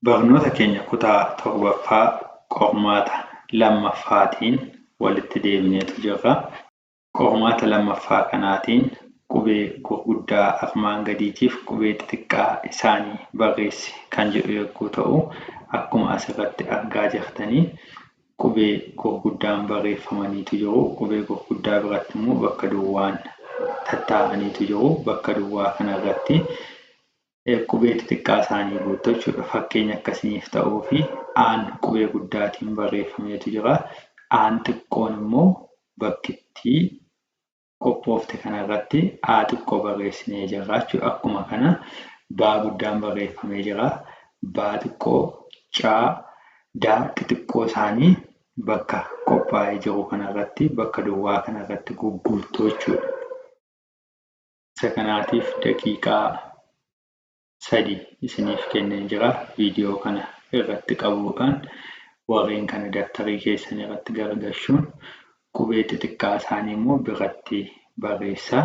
Barnoota keenya kutaa 7ffaa qormaata 2ffaatiin walitti deebineetu jirra. Qormaata 2ffaa kanaatiin qubee gurguddaa armaan gadiitiif qubee xixiqqaa isaanii barreessi kan jedhu yogguu ta'u, akkuma asirratti argaa jirtanii qubee gurguddaan barreeffamaniitu jiru. Qubee gurguddaa biratti immoo bakka duwwaan tattaa'aniitu jiru. Bakka duwwaa kanarratti Qubee xixiqqaa isaanii guuttu jechuudha. Fakkeenya akka isiniif ta'uuf A'n qubee guddaatiin barreeffameetu jira. A'n xiqqoon immoo bakkittii qophoofte kanarratti A xiqqoo barreessinee jirra jechuudha. Akkuma kana baa guddaan barreeffamee jira. Baa xiqqoo, caa, daa xixiqqoo isaanii bakka qophaa'ee jiru kanarratti bakka duwwaa kanarratti gugguuttu jechuudha. Isa kanaatiif daqiiqaa sadi isiniif kenneen jira. Viidiyoo kana irratti qabuudhaan warreen kana dabtarii keessan irratti gargashuun qubee xixiqqaa isaanii immoo biratti barreessaa.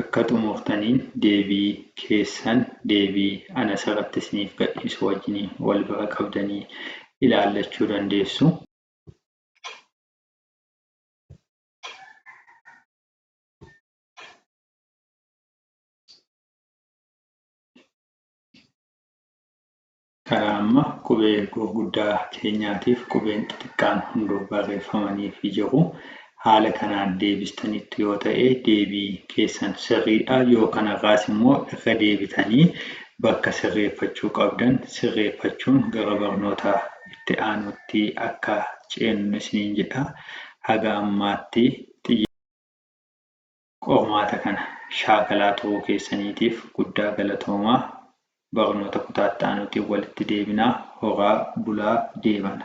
Akka xumurtaniin deebii keessan deebii an asirratti isiniif gadhiisu wajjin wal bira qabdanii ilaallachuu dandeessu. Karaa amma qubee ergoo guddaa keenyaatiif qubeen xixiqqaan hunduu barreeffamaniifi jiru. Haala kanaan deebistaniittu yoo ta'e deebii keessan sirriidha, yoo kanarraas immoo irra deebitanii bakka sirreeffachuu qabdan sirreeffachuun gara barnoota itti aanuutti akka ceennu isiniin jedha. Haga ammaatti xiyyeeffannoo. Qormaata kana shaakalaa turuu keessaniitiif guddaa galatoomaa. Barnoota kutaa itti aanuutiin walitti deebinaa. Horaa bulaa deebana.